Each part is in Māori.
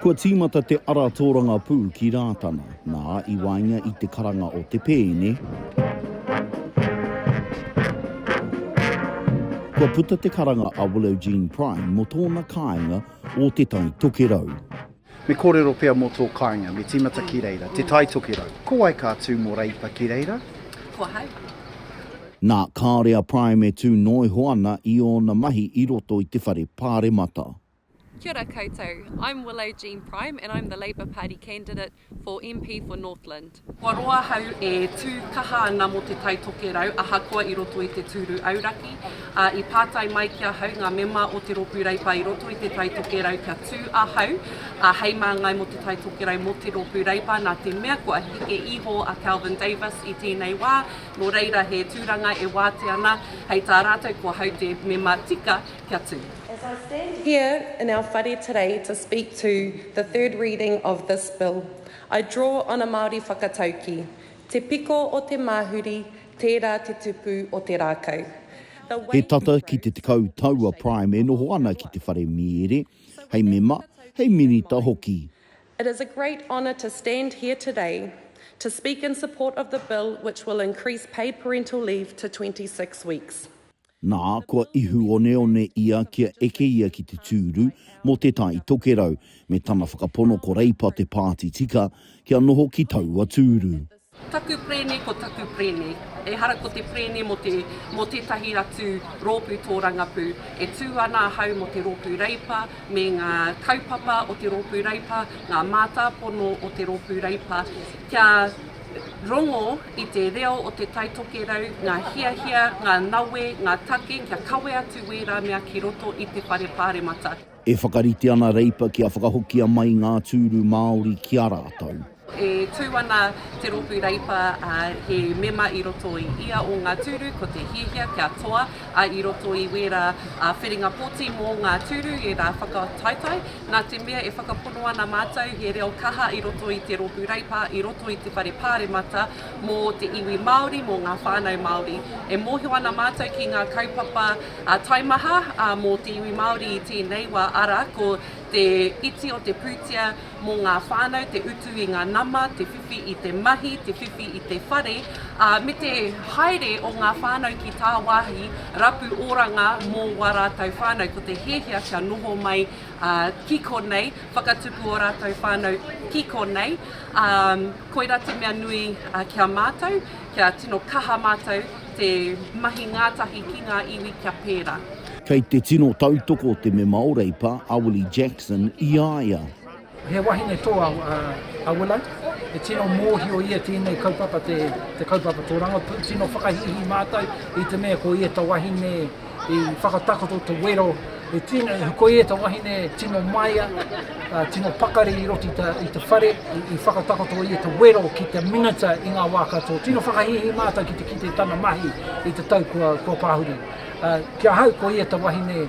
Kua tīmata te ara tōrangapū ki Rātana, nā, i waenga i te karanga o te pēne, kua puta te karanga a Willow Jean Prime mō tōna kāinga o Te Tai Tokerau. Me kōrero pea mō tō kāinga, me tīmata ki reira, Te Tai Tokerau. Ko wai ka tū mō Reipa ki reira? Ko ahau. Nā, kāore a Prime e tū noa iho ana i ōna mahi i roto i te whare pāremata. Kia ora koutou, I'm Willow Jean Prime and I'm the Labour Party candidate for MP for Northland. Kua roa ahau e tū kaha ana mō Te Tai Tokerau ahakoa i roto i te tūru auraki, ā, i pātai mai ki ahau ngā mema o Te Rōpū Reipa i roto i Te Tai Tokerau kia tū ahau ā, hei māngai mō Te Tai Tokerau mō Te Rōpū Reipa nā te mea kua heke iho a Kelvin Davis i tēnei wā, nō reira he tūranga e wātea ana hei tā rātou ko ahau te mema tika Kia tū. As I stand here in our whare today to speak to the third reading of this bill, I draw on a Māori whakatauki, Te piko o te māhuri, tērā te tupu o te rākau. He tata ki te tekau tau a Prime e noho ana ki te whare mīere, hei mema, hei minita hoki. It is a great honour to stand here today to speak in support of the bill which will increase paid parental leave to 26 weeks. Nā, kua ihu oneone ia kia eke ia ki te tūru mō Te Tai Tokerau, me tana whakapono ko Reipa te pāti tika kia noho ki taua tūru. Ko taku prene, ko taku prene. Ehara ko te prene mō te, mō tētahi atu rōpū tōrangapū. E tū ana ahau mō te rōpū Reipa me ngā kaupapa o te rōpū Reipa, ngā mātāpono o te rōpū Reipa, kia. Rongo i te reo o Te Tai Tokerau, ngā hiahia, ngā nawe, ngā take kia kawe atu wērā mea ki roto i te whare Pāremata. E whakarite ana Reipa kia whakahokia mai ngā tūru Māori ki a rātou. E tū ana te rōpū Reipa he mema i roto i ia o ngā tūru, ko te hiahia kia toa i roto i wērā whiringa pōti mō ngā tūru, ērā whakataetae Nā te mea e whakapono ana mātou he reo kaha i roto i te Rōpū Reipa, i roto i te Whare Pāremata mō te iwi Māori, mō ngā whānau Māori. E mōhio ana mātou ki ngā kaupapa taimaha mō te iwi Māori i tēnei wā, arā, ko te iti o te pūtea mō ngā whānau, te utu i ngā nama, te. whiwhi i te mahi, te whiwhi i te whare, ā, me te haere o ngā whānau ki tāwāhi rapu oranga mō wā rātou whānau. Ko te hiahia kia noho mai ki konei, whakatupu ō rātou whānau ki konei, ā, koirā te mea nui ki a mātou, kia tino kaha mātou te mahi ngātahi ki ngā iwi kia pērā. Kei te tino tautoko te mema o Reipa, a Willie Jackson, i a ia. He wahine tō a Willow, e tino mōhio ia tēnei kaupapa te kaupapa tōrangapū, tino whakahīhī mātou i te mea ko ia ta wahine i whakatakoto te wero, ko ia ta wahine tino maia, tino pakari i roto i te whare, i whakatakoto ia te wero ki te minita i ngā wā katoa. Tino whakahīhī mātou ki te kite tana mahi i te tau kua pāhuri. Ki ahau ko ia ta wahine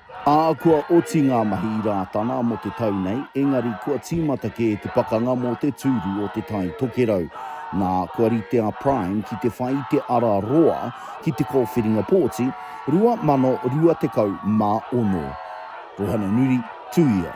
Ahakoa oti ngā mahi i Rātana mō te tau nei, engari kua tīmata kē te pakanga mō te tūru o Te Tai Tokerau. Nā, kua rite a Prime ki te whai i te ara roa ki te kōwhiringa pōti, 2026. Ruhananuri, Tuia.